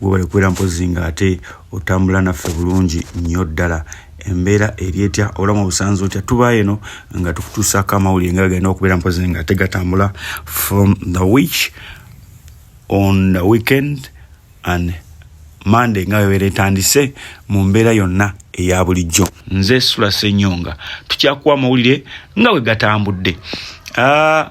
webale kubeera mpozi nga ate otambula naffe bulungi nnyo ddala embeera eri etya obulamu obusanze otya tubayo eno nga tukutuusaako amawulire nga galina okubeera mpozi nga ate gatambula from the wich on the weekend and mande nga webeera etandise mu mbeera yonna eya bulijjo nze sula senyonga tukyakuwa amawulire nga bwe gatambudde ah,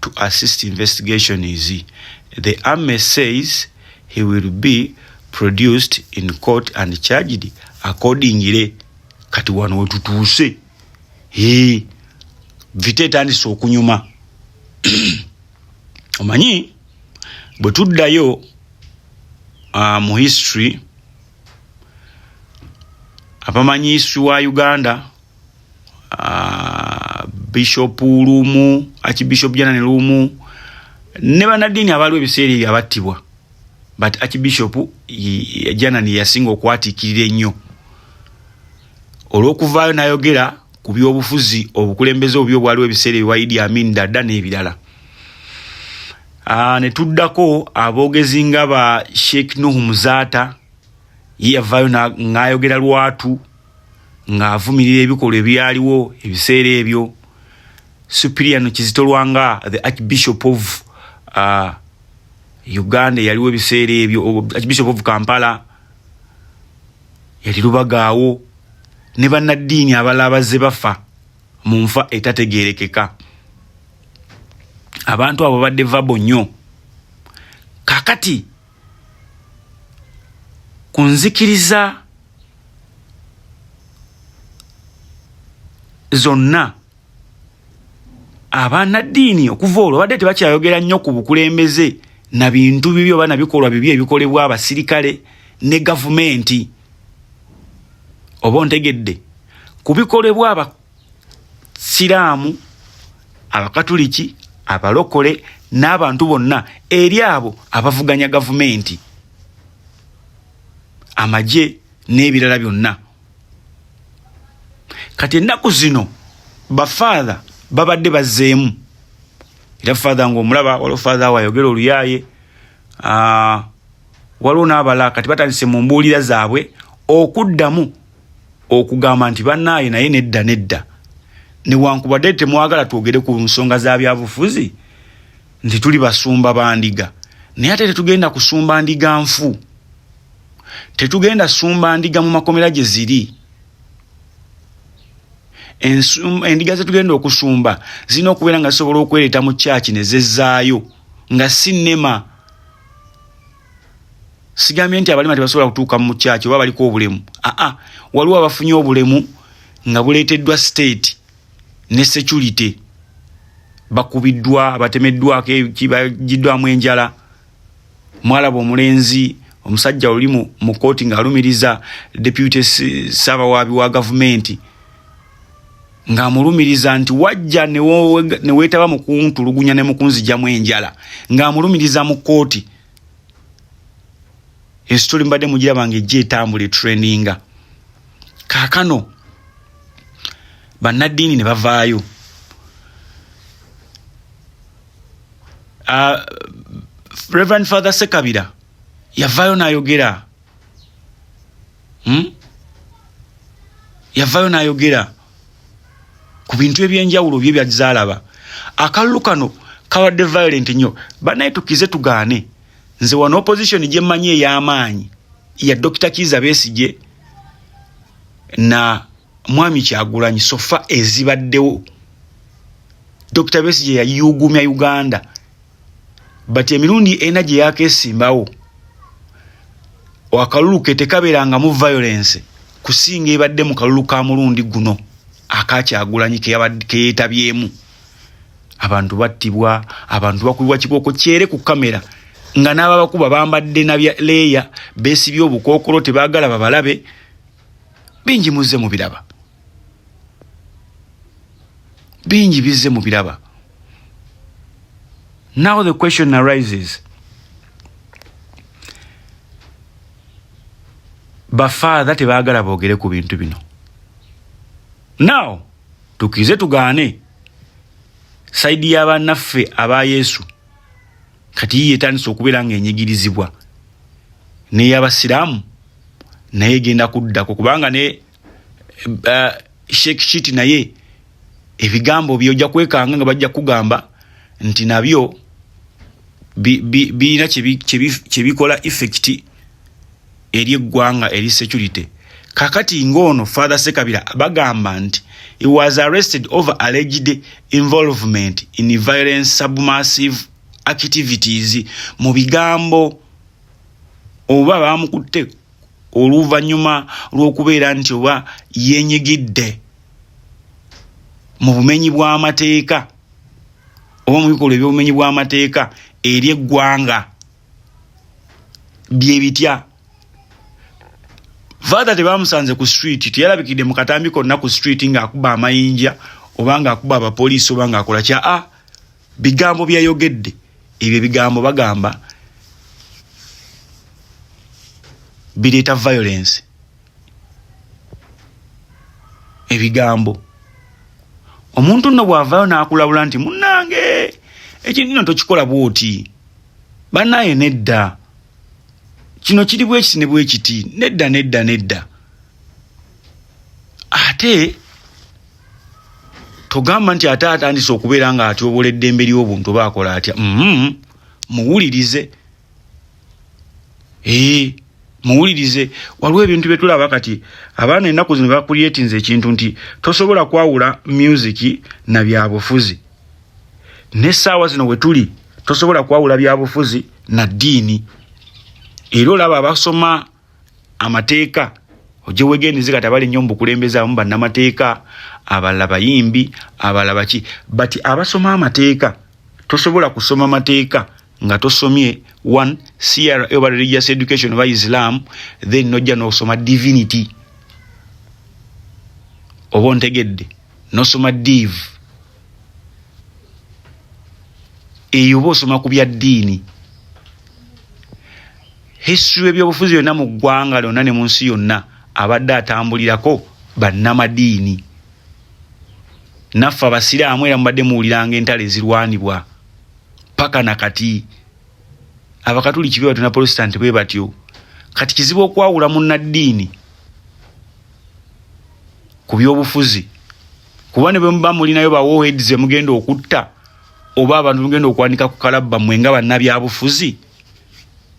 to assist investigation is the army says he will be produced in court and charged accordingly kati wano wetutuuse he vita etandise okunyuma omanyi bwe tuddayo uh, mu history abamanyi history wa uganda uh, bishop lumu archbishop janani lumu ne banaddiini abaaliwo ebiseera ebyo abattibwa but archbishop janani yasinga okwatikirira ennyo olw'okuvaayo n'ayogera ku byobufuzi obukulembeze obubi obwaliwo ebiseera ebyo waidi amin dada n'ebirala ah, ne tuddako aboogezi nga ba sheikh nuhu muzaata ye yavaayo ng'ayogera lwatu ng'avumirira ebikolwa ebyaliwo ebiseera ebyo supiriano kizitolwanga the archbishop of uh, uganda eyaliwo ebiseera ebyo archbishop of kampala yali lubagaawo ne bannaddiini abalala bazze bafa mu nfa etategeerekeka abantu abo badde vabo nnyo kakati ku nzikiriza zonna abanaddiini okuva olwo badde tebakyayogera nnyo ku bukulembeze na bintu bibi oba na bikolwa bibi ebikolebwa abasirikale ne gavumenti oba ontegedde ku bikolebwa siraamu abakatuliki abalokole n'abantu bonna eri abo abavuganya gavumenti amagye n'ebirala byonna kati ennaku zino bafaatha babadde bazzeemu era faatha ngaomulaba waliwo faatha awo ayogera oluyaaye waliwo n'abalala kati batandise mu mbuulira zaabwe okuddamu okugamba nti bannaaye naye nedda nedda newankubadde temwagala twogere ku nsonga za byabufuzi nti tuli basumba ba ndiga naye ate tetugenda kusumba ndiga nfu tetugenda sumba ndiga mu makomera gye ziri endiga zetugenda okusumba zirina okubeera nga zisobola okwereeta mu kyaki ne zezzaayo nga si nema sigambye nti abalema tebasobola kutuuka mu mukyaki oba baliko obulemu aa waliwo abafunye obulemu nga buleeteddwa state ne security bakubiddwa batemeddwako eki bagiddwamu enjala mwalaba omulenzi omusajja oli mu kooti ng'alumiriza deputy ssaabawaabi wa gavumenti ng'amulumiriza nti wajja ne weetaba mu kuntulugunya ne mukunzijamu enjala ng'amulumiriza mu kkooti ensituli mbadde mugiraba nga ejja etambula etraininga kaakano bannaddiini ne bavaayo uh, reverend father sekabira yavaayo n'ayogera hmm? yavayo nayogera ku bintu ebyenjawulo bye byazaalaba akalulu kano kabadde violent nnyo banaye tukize tugaane nze wano opposition gyemmanyi ey'amaanyi ya dokita kiiza besigye na mwami kyagulanyi sofa ezibaddewo dokita besigye yayuugumya uganda but emirundi ena gye yakesimbawo akalulu ke tekabeerangamu violence kusinga ebadde mu kalulu ka mulundi guno akakyagulanyi keyetabyemu abantu battibwa abantu bakubibwa kibooko kyere ku kamera nga n'ababakuba bambadde nabya leeya beesibye obukookolo tebaagala babalabe bingi muzze mu biraba bingi bizze mu biraba now the question arises bafaatha tebaagala boogere ku bintu bino now tukize tugaane saidi y'abanaffe aba yesu kati yiye etandise okubeera ng'enyigirizibwa n'ey'abasiraamu naye genda kuddako kubanga ne uh, sheik shiti naye ebigambo byoja kwekanga nga bajja kugamba nti nabyo birina kyebikola effect eri eggwanga eri security kakati ng'ono father sekabira bagamba nti he was arrested over alleged involvement in violence submassive activities mu bigambo oba baamukutte oluvannyuma lw'okubeera nti oba yenyigidde mu bumenyi bw'amateeka oba mu bikolwa eby'obumenyi bw'amateeka eri eggwanga bye bitya faatha tebaamusanze ku street teyalabikidde mu katambi konna ku street ng'akuba amayinja oba ng'akuba abapoliisi oba ng'akola kya a bigambo byeyayogedde ebyo ebigambo bagamba bireeta violence ebigambo omuntu nno bw'avaayo n'akulabula nti munnange ekintu kino tokikola bw'oti bannaaye nedda kino kiri bwekiti ne bwekiti nedda nedda nedda ate togamba nti ate atandise okubeera nga atyobola eddembe ly'obuntu oba akola atya mm-hmm. muwulirize ee muwulirize waliwo ebintu bye tulaba kati abaana ennaku zino bakulyetinza ekintu nti tosobola kwawula myuziki na byabufuzi n'essaawa zino we tuli tosobola kwawula byabufuzi na ddiini era olaba abasoma amateeka ojja wegendereze kati abali nnyo mu bukulembeze abamu bannamateeka abalala bayimbi abalala baki but abasoma amateeka tosobola kusoma mateeka nga tosomye one cra oba religious education oba islam then nojja nosoma divinity oba ontegedde nosoma div eyo oba osoma ku bya ddiini History w'ebyobufuzi yonna mu ggwanga lyonna ne mu nsi yonna abadde atambulirako bannamadiini. Naffe Abasiraamu era mubadde muwuliranga entalo ezirwanibwa paka na kati. Abakatuliki bwe batyo na Protestant bwe batyo. Kati kizibu okwawula munnaddiini ku byobufuzi kuba ne bwe muba mulinayo bawooheads emugenda okutta oba abantu mugenda okwanika ku kalabba mwe nga bannabyabufuzi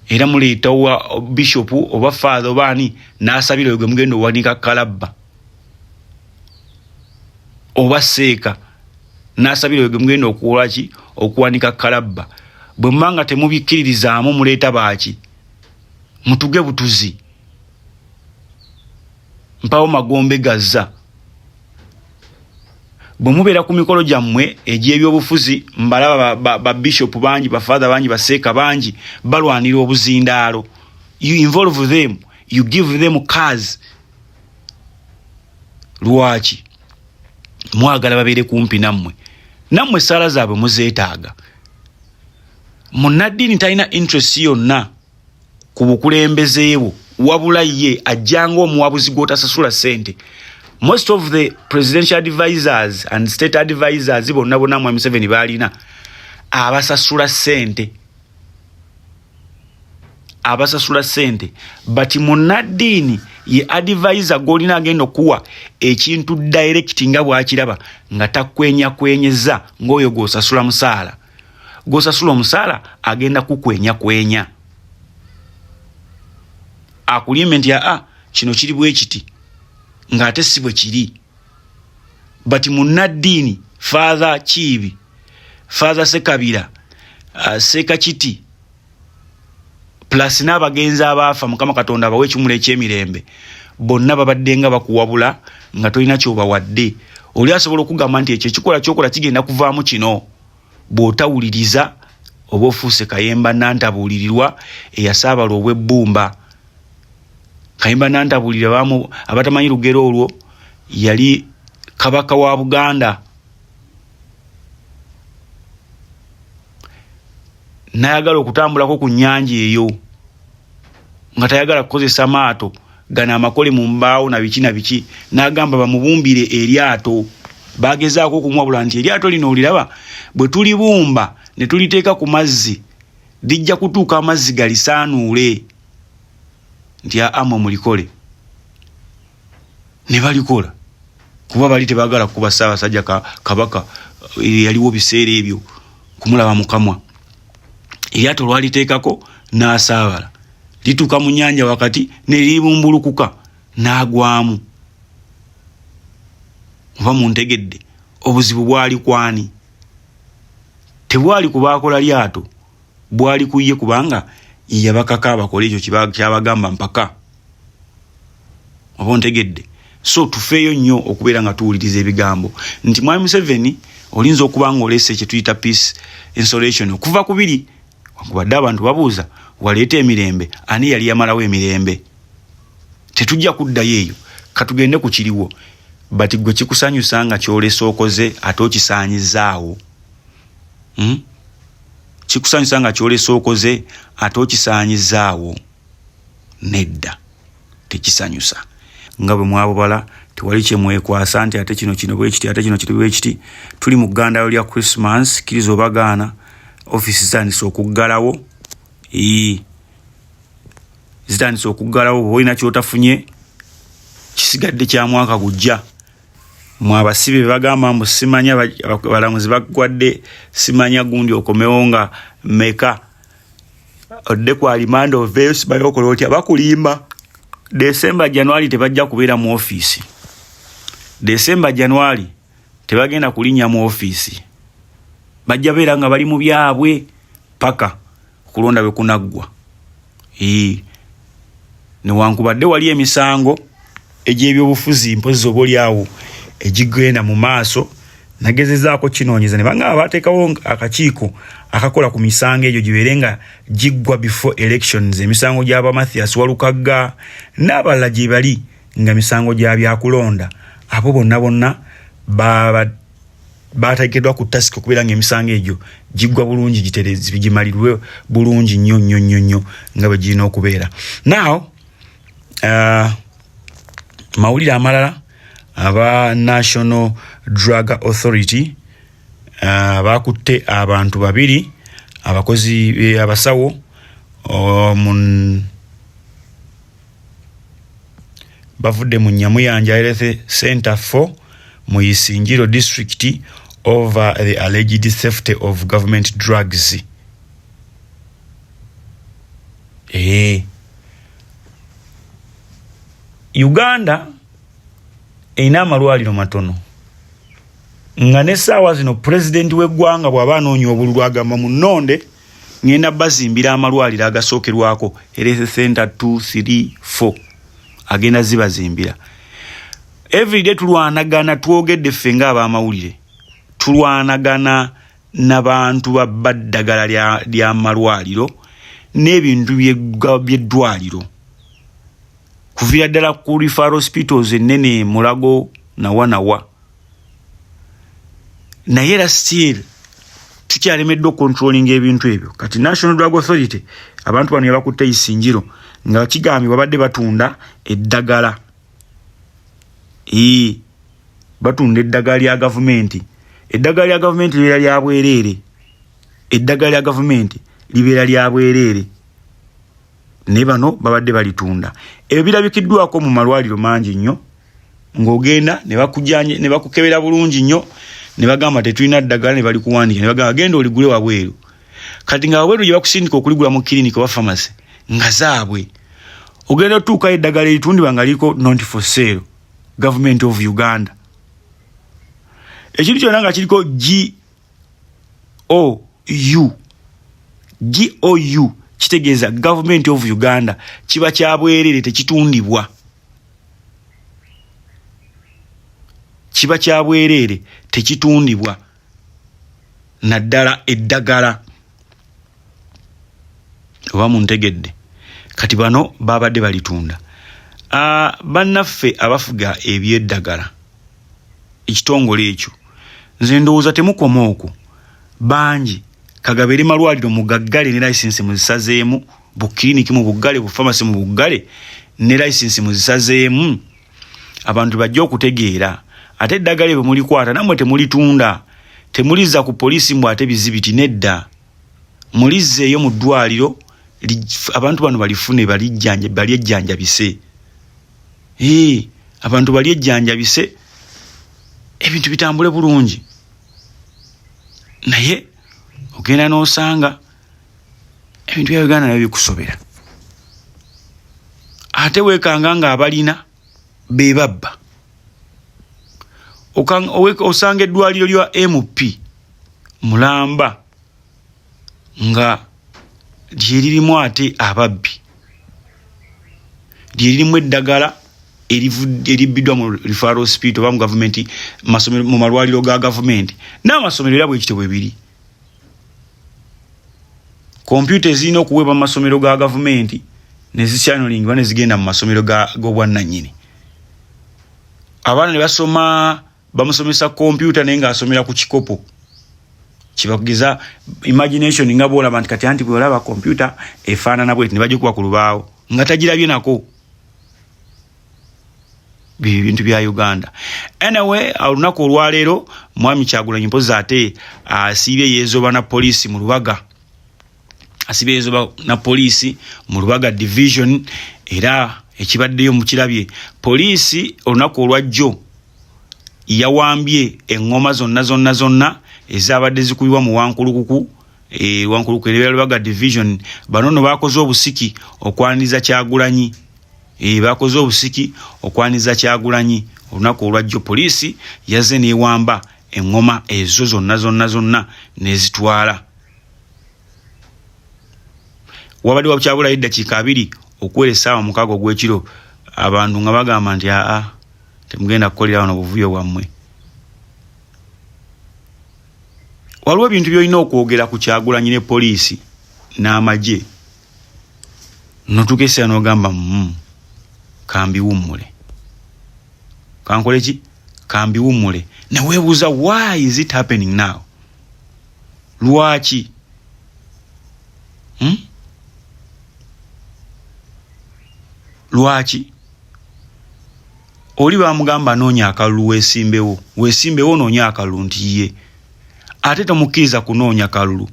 era muleeta wa bishop oba fathe oba ani n'asabira oyo gwe mugenda owanika kalabba oba seeka n'asabira oyo gwe mugenda okuwola ki okuwanika kalabba bwe muba nga temubikkiririzaamu muleeta baaki mutuge butuzi mpawo magombe gazza bwe mubeera ku mikolo gyammwe egy'ebyobufuzi mbalaba babishopu ba, ba bangi bafaatha bangi baseeka bangi balwanira obuzindaalo you involve them you give them cars lwaki mwagala babeere kumpi nammwe nammwe essaala zaabwe muzeetaaga munnaddiini talina interest yonna ku bukulembeze bwo wabula ye ajjanga omuwabuzi gwotasasula sente most of the presidential advisors and state advisors bonna bonna mwami museveni baalina abasasula sente abasasula sente but munaddiini ye advisor gwolina agenda okuwa ekintu direct nga bwakiraba nga takwenyakwenyeza ngaoyo gwosasula musaala gwosasula omusaala agenda kukwenya kwenya akulimbe nti aa ah, kino kiri bwekiti ng'ate si bwe kiri but munnaddiini faatha kiibi faatha sekabira uh, sekakiti plus n'abagenzi abaafa mukama katonda abawa ekimula ekyemirembe bonna babadde nga bakuwabula nga tolina kyobawadde oli asobola okugamba nti ekyo ekikola kyokola kigenda kuvaamu kino bw'otawuliriza oba ofuuse kayemba nantabuulirirwa eyasaabala obw'ebbumba kayemba nantabuulira bamu abatamanyi lugero olwo yali kabaka wa buganda nayagala okutambulako ku nyanja eyo nga tayagala kukozesa maato gano amakole mu mbaawo na biki na biki nagamba bamubumbire eryato bagezaako okumuwabula nti eryato lino oliraba bwe tulibumba ne tuliteeka ku mazzi lijja kutuuka amazzi galisaanuule nti aamwe mulikole ne balikola kuba bali tebagala kuba ssaabasajja kabaka eh, yaliwo biseera ebyo kumulaba mukamwa eryato lwaliteekako n'asaabala lituuka mu nyanja wakati neribumbulukuka n'agwamu oba muntegedde obuzibu bwali kwani tebwali kubaakola lyato bwali ku ye kubanga yeyabakaka abakole ekyo kyabagamba mpaka oba ontegedde so tufeeyo nnyo okubeera nga tuwuliriza ebigambo nti mwami museveni olinza okuba nga oleese kyetuyita peace insolation okuva ku biri wankubadde abantu babuuza waleeta emirembe ani yali yamalawo emirembe tetujja kuddayo eyo katugende ku kiriwo but gwe kikusanyusa nga kyolesa okoze ate okisaanyizaawo hmm? kikusanyusa nga kyolesa okoze ate okisaanyizaawo nedda tekisanyusa nga bwe mwabubala tewali kyemwekwasa nti ate kino kino bwekiti ate kino kiri bwekiti tuli mu ggandaalo lya christmas kiriza obagaana ofiisi zitandise okuggalawo ii zitandise okuggalawo bwoba olina kyotafunye kisigadde kya mwaka gujja mu abasibe bagamba mbu simanya balamuzi bagwadde simanya gundi okomewo nga meka odde ku alimanda oveeyo sibayo okola otya bakulimba desemba januari tebajja kubeera mu ofiisi desemba januari tebagenda kulinnya mu ofiisi bajja beera nga bali mu byabwe paka okulonda bwe kunaggwa newankubadde wali emisango egy'ebyobufuzi mpozi oba olyawo egigenda mu maaso nagezezaako kinoonyeza ne bangamba baateekawo akakiiko akakola ku misango egyo gibeere nga giggwa before elections emisango gyaba mathias walukagga n'abalala gye bali nga misango gya byakulonda abo bonna bonna baba batagekedwa ku task okubera nga emisango egyo gigwa bulungi giterezi bigimalirwe bulungi nyo nyo nyo nyo nga bagirina okubeera now uh, mawulire amalala aba national drug authority uh, bakutte abantu babiri abakozi eh, abasawo um, bavudde mu Nyamuyanja Health Center 4 mu Isingiro district over the alleged safety of government drugs. Eee. Eh. Uganda erina amalwaliro matono nga n'essaawa zino pulezidenti w'eggwanga bw'aba anoonya obululu agamba mu nnonde ŋenda bazimbira amalwaliro agasookerwako health center 234 agenda zibazimbira everyday tulwanagana twogedde ffe nga abamawulire tulwanagana nabantu babba ddagala lyamalwaliro n'ebintu byeddwaliro kuvira ddala ku refer hospitals ennene mulago nawa nawa naye era still tukyalemeddwa okontrolinga ebintu ebyo kati national drug authority abantu bano yabakutte isinjiro nga kigambye babadde batunda eddagala ee batunda eddagala lya gavumenti eddagala lya gavumenti libeera lya bwereere eddagala lya gavumenti libeera lya bwereere ne bano babadde balitunda ebyo birabikiddwako mu malwaliro mangi nnyo ng'ogenda ne bakujanye ne bakukebera bulungi nnyo ne bagamba tetulina ddagala ne balikuwandiika ne bagamba genda oligule wabweru kati nga wabweru gye bakusindika okuligula mu kiriniki oba famasi nga zaabwe ogenda otuukayo eddagala eritundibwa nga liiko nonti for sale government of uganda ekintu kyona nga kiriko g o u g o u kitegeeza government of uganda kiba kya bwerere tekitundibwa kiba kya bwerere tekitundibwa naddala eddagala oba muntegedde kati bano babadde balitunda ah, bannaffe abafuga ebyeddagala ekitongole ekyo nze ndowooza temukoma okwo bangi kagabeere malwaliro mugaggale ne layisinsi muzisazeemu bukiriniki mu buggale bufamasi mu buggale ne layisinsi muzisazeemu abantu bajja okutegeera ate eddagala ebyo mulikwata namwe temulitunda temuliza ku poliisi mbu ate bizibiti nedda mulizzeeyo mu ddwaliro abantu bano balifune bali ejjanjabise abantu bali ejjanjabise ebintu bitambule bulungi naye ogenda n'osanga ebintu bya uganda nabyo bikusobera ate wekanga nga abalina bebabba osanga eddwaliro lya mp mulamba nga lyeririmu ate ababbi lyeririmu eddagala eribbiddwa mu refero spirit oba mu gavumenti mu malwaliro ga gavumenti n'amasomero era bwekityo bwe biri kompyuta ezirina okuweebwa mu masomero ga gavumenti nezikyanulingibwa nezigenda mu masomero g'obwannanyini abaana ne basoma bamusomesa kompyuta naye ng'asomera ku kikopo kibakugeza imagination nga bwolaba nti kati anti bwolaba kompyuta efaanana bweti ne bagikuba ku lubaawo nga tagirabye nako bintu bya uganda anyway olunaku olwaleero mwami kyagulanyi mpozi ate asiibye yezoba na poliisi mu lubaga asiibye yezoba na poliisi mu lubaga division era ekibaddeyo mukirabye poliisi olunaku olwajjo yawambye eŋŋoma zonna zonna zonna ezabadde zikubibwa mu wankulukuku e, wankuluku erebera lubaga division bano no bakoze obusiki okwaniza kyagulanyi e, bakoze obusiki okwaniza kyagulanyi olunaku olwajjo poliisi yazze newamba eŋŋoma ezo zonna zonna zonna nezitwala wabadde wakyabulayo eddakiika abiri okuwera essaawa mukaaga ogw'ekiro abantu nga bagamba nti aa temugenda kukolera wano buvuyo bwammwe waliwo ebintu byolina okwogera ku kyagulanyi ne poliisi n'amagye notuuka ekiseera n'ogamba mu mm, kambiwummule kankole ki kambiwummule neweebuuza why is it happening now lwaki hmm? lwaki oli bamugamba anoonya akalulu weesimbewo weesimbewo onoonya akalulu nti ye ate tomukkiriza kunoonya kalulu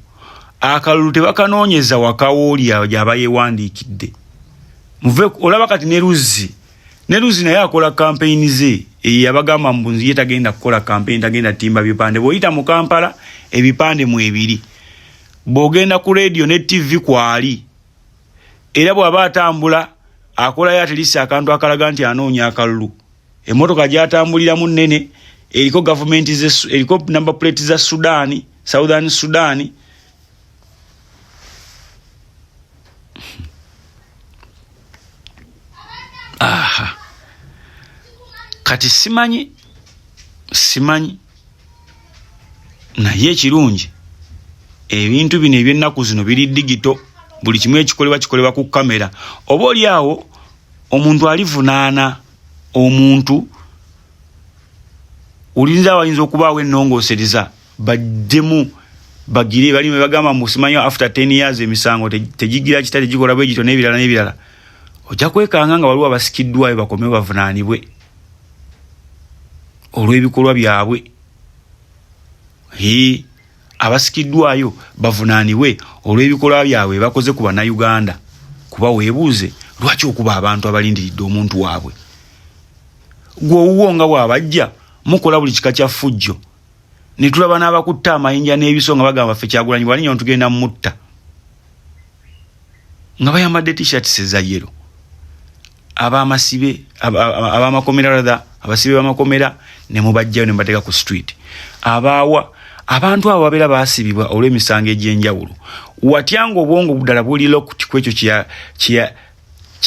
akalulu tebakanoonyeza wakawooli gyaba yeewandiikidde muve olaba kati ne luzzi ne luzzi naye akola kampeyini ze eyo yabagamba mbu ye tagenda kukola kampeyini tagenda timba bipande bw'oyita mu kampala ebipande mu ebiri bw'ogenda ku leediyo ne ttivi kwali era bw'aba atambula akolayo atilisi akantu akalaga nti anoonya akalulu emmotoka gyatambuliramu nnene eriko gavumenti eriko namba puleti za sudaani southern sudaani aha kati simanyi simanyi naye ekirungi ebintu bino ebyennaku zino biri digito buli kimu ekikolebwa kikolebwa ku kamera oba oli awo omuntu alivunaana omuntu olinza wayinza okubaawo ennongoosereza bajjemu bagire bali bagamba musimanyo after 10 years emisango tegigira kita tegikola bwe gito n'ebirala n'ebirala ojja kwekanga nga waliwo abasikiddwayo bakomewo bavunaanibwe olw'ebikolwa byabwe abasikiddwayo bavunaanibwe olw'ebikolwa byabwe bakoze ku bannayuganda kuba weebuuze lwaki okuba abantu abalindiridde omuntu waabwe gwe owuwo nga bw'abajja mukola buli kika kya ffujjo ne tulaba n'abakutte amayinja n'ebiso nga bagamba ffe kyagulanyi bwalinyo ntugenda mutta nga bayambadde t-shirts eza yero abamasibe abamakomera rather abasibe bamakomera ne mubajjayo ne mbateeka ku street abaawa abantu abo babeera baasibibwa olw'emisango egy'enjawulo watya ng'obwongo ddala buli locked ku ekyo kye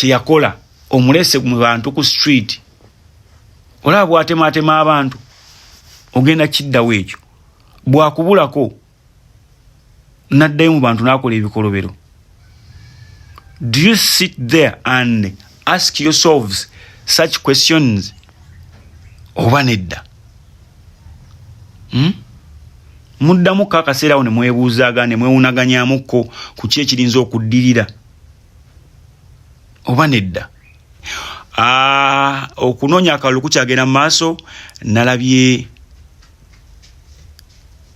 yakola omulese mu bantu ku street olaba bwatemaatema abantu ogenda kiddawo ekyo bwakubulako naddayo mu bantu n'akola ebikolobero do you sit there and ask yourselves such questions oba nedda hmm? muddamu ko akaseera awo ne mwebuuzaaga ne mwewunaganyamukko ku ki ekirinza okuddirira oba nedda ah, okunoonya akalulu kukyagenda mu maaso nalabye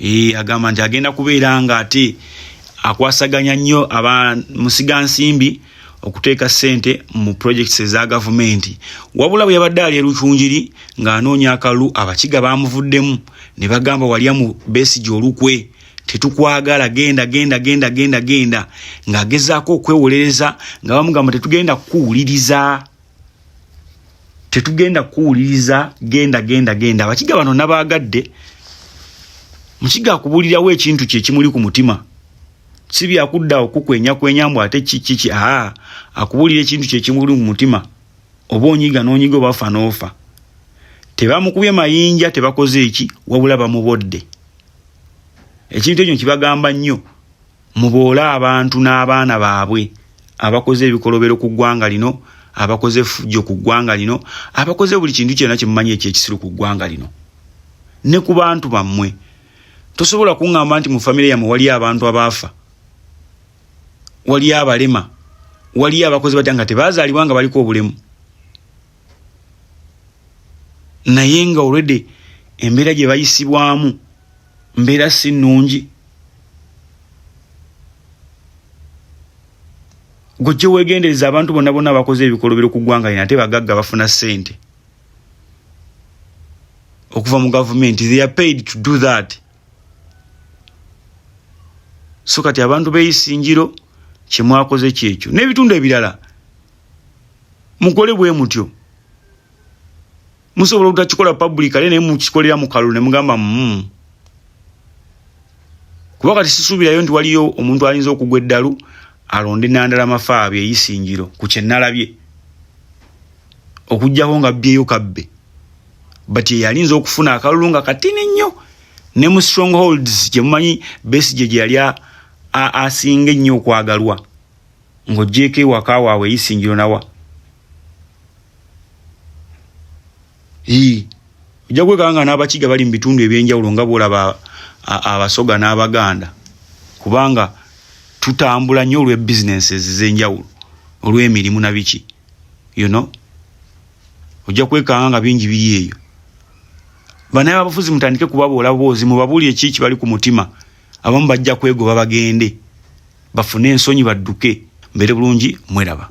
Ee, agamba nti agenda kubeera nga ate akwasaganya nnyo aba musiga nsimbi okuteeka ssente mu projects eza gavumenti wabula bwe yabadde ali erucungiri ng'anoonya akalulu abakiga baamuvuddemu ne bagamba walya mu besigye olukwe tetukwagala genda genda genda genda genda ng'agezaako okwewolereza nga bamugamba tetugenda kukuwuliriza tetugenda kuwuliriza genda genda genda abakiga bano nabaagadde mukiga akubuulirawo ekintu kye kimuli ku mutima si byakudda okukwenya kwenya mbu ate kikiki aa akubuulira ekintu kye kimuli ku mutima oba onyiga n'onyiga obafa n'ofa tebamukubye mayinja tebakoze eki wabula bamubodde ekintu ekyo kibagamba nnyo Muboole abantu n'abaana baabwe abakoze ebikolobero ku ggwanga lino, abakoze effujjo ku ggwanga lino, abakoze buli kintu kyonna kye mumanyi ekyekisiru ku ggwanga lino ne ku bantu bammwe. Tosobola kuŋŋamba nti mu famire yammwe waliyo abantu abaafa, waliyo abalema, waliyo abakozi batya nga tebaazaalibwa nga baliko obulemu naye nga olwedde embeera gye bayisibwamu mbeera si nnungi gwe kyewegendereza abantu bonna bonna bakoze ebikolobero ku ggwanga lino ate bagagga bafuna ssente okuva mu gavumenti they are paid to do that so kati abantu beyisingiro kyemwakoze kyekyo n'ebitundu ebirala mukole bwe mutyo musobola obutakikola publicale naye mukikolera mu kalulu ne mugamba mm. kuba kati sisuubirayo nti waliyo omuntu ayinza okugwa eddalu alonde nandala mafaabi eyisingiro ku kyenalabye okuggyako nga byeyo kabbe but yeyalinza okufuna akalulu nga katini nnyo ne mu strongholds gyemumanyi besije gye yali asinga ennyo okwagalwa ng'ogyeko ewaka waabwe eyisingiro nawa ojja kwekanga nga n'abakiga bali mu bitundu eby'enjawulo nga bw'olaba abasoga n'abaganda kubanga tutambula nnyo olw'e businesses ez'enjawulo olw'emirimu na biki you know ojja kwekanga nga bingi biri eyo banaye abafuzi mutandike kubaboola boozi mubabuli eki kibali ku mutima abamu bajja kwegoba bagende bafune ensonyi badduke mbeere bulungi mweraba